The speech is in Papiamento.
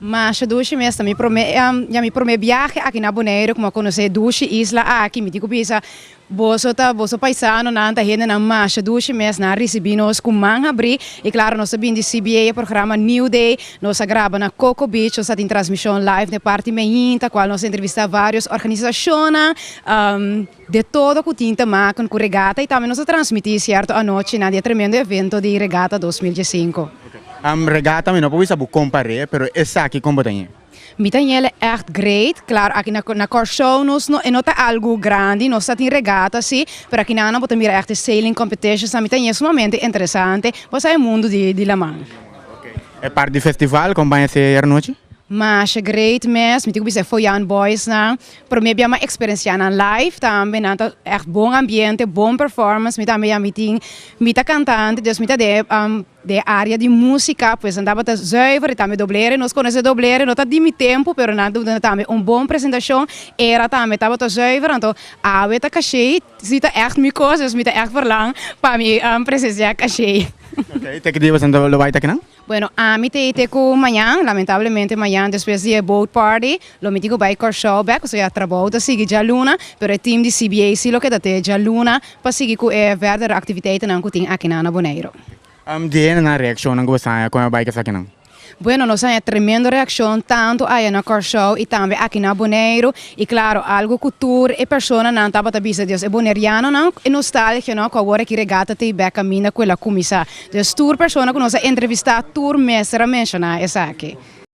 Masha dushi mester mi prome ya mi prome biahe aki na Boneiru ku mi a konosé dushi isla aki mi di ku bisa boso ta boso paisano nan ta hende nan masha dushi mes nan a risibi nos ku man habri i klaro nos ta bin di CBA e programa New Day nos a graba na Coco Beach nos ta tin transmishon live den parti Meinta kual nos a entrevistá varios organisashonnan. De todo cu tin ta maken cu regata y tambe nos a transmiti cierto anochi na di e tremendo evento di Regata dos mil diesinco. Am Regata mi no por bisa bo compar'e pero esaki con bo ta ñe? Mi ta ñe'le echt great. Claro aki na na Corsou nos no e no ta algo grandi, nos ta tin regata si, pero aki nan nan bo ta mira echt e sailing competitions nan mi ta ñe sumamente interesante. Bo sa e mundo di di laman. E part di festival con baña si e anochi? Masha great mes, mi tin cu bisa e Foyan boys nan, Prome bia m'a experenciá nan live tambe, nan ta echt bon ambiente, bon performance, mi tambe ya mi tin, mi ta cantante, dus mi ta den den e area di música, pues nan tabata zuiver y tambe doblere, nos conoce e doblere, no ta di mi tempo, pero nan ta duna tambe un bon presentacion, era tambe tabata zuiver, anto awe ta cashey, si ta echt mi cos, dus mi ta echt verlang pa mi presenciá cashey. Te ki dia lo bay ta kinan? Bueno ami ta ete ku mañan, lamentablemente mañan despues di e boat party lo mi tin ku bai Kòrsou bèk, pasobra ya trabou ta sigui djaluna, pero e team di CBA si lo keda te djaluna pa sigui ku e verdere aktiviteitenan ku tin akinan na Boneiru. Am di hende nan reakshonnan ku bo saña kon e bai ka esakinan? Bueno nos saña tremendo reakshon tantu aya na Kòrsou i tambe aki na Boneiru, i klaro algu ku tur e personanan tabata bisa dios e bonerianonan e nostalgia no ku awor aki regata tei bèk kaminda ku el a kuminsá. Nos tur persona ku nos a entrevistá tur mester a menshoná esaki.